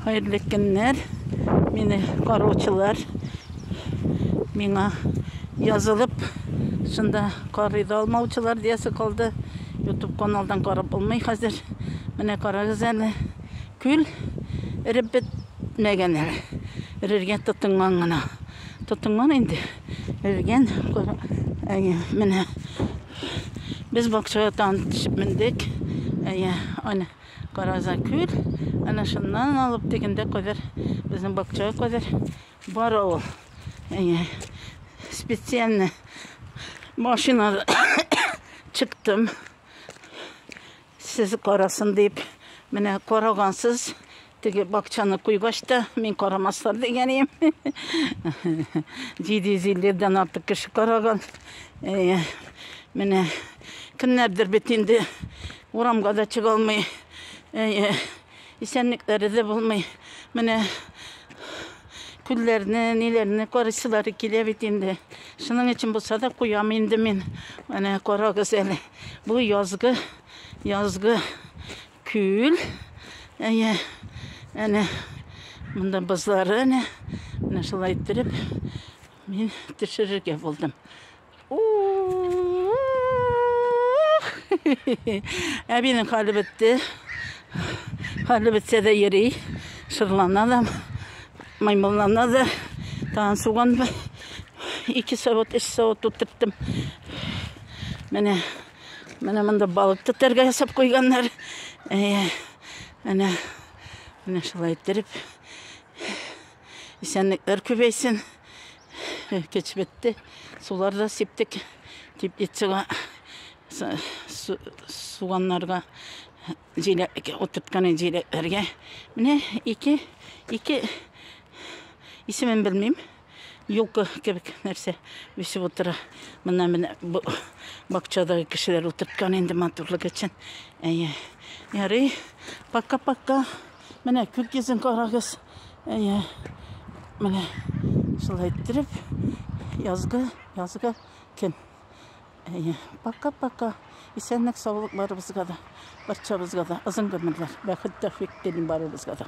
Хәерле көннәр, мине караучылар. Миңа язылып, шунда карый да алмаучылар диясе калды. YouTube каналдан карап булмый хәзер. Менә карагыз әле. Күл эреп бетмәгән әле. Эрергә тотынган гына. Тотынган инде. Эргән. Әйе, менә. Без бакчага тан төшеп мендек. Әйе, аны Караза күл, әнә шуннан алып тегендә кадәр, безнең бакчага кадәр бар авыл. Әйе, специально машинада чыктым. Сез карасын дип, менә карагансыз, теге бакчаны куйгач та, мин карамаслар дигән идем. 750 дән артык кеше караган. Әйе, менә кемнәрдер бит инде Урамга да чыга алмый. Әйе. Исәнлекләре дә булмый. Менә күлләрне, ниләрне карыйсылары килә бит инде. Шуның өчен булса да куям инде мин. Менә карагыз әле. Бу язгы, язгы күл. Әйе. Әнә монда бозлары әнә. Менә шулай иттереп мин төшерергә булдым. Әбинең хәле бетте. Хәле бетсә дә йөри. Шырлана да, маймыллана да. Тан суган ба. Ике савыт, өч савыт тутырттым. Менә, менә монда балык тотарга ясап куйганнар. Әйе, менә, менә шулай иттереп. исәнлекләр күбәйсен. Көч бетте, сулар да сиптек. Теплицага суганнарга җиләк утырткан җиләкләргә. Менә ике ике исемен белмим. Юлка кебек нәрсә үсеп утыра. Менә менә бу бакчадагы кешеләр утырткан инде матурлык өчен. Әйе. Ярый. Пока-пока. Менә күк йөзен карагыз. Әйе. Менә шулай иттереп язгы, язгы кем? Әйе. Пока-пока. Исәнлек саулык барыбызга да, барчабызга да озын гомерләр, бәхет тәфик телим барыбызга да.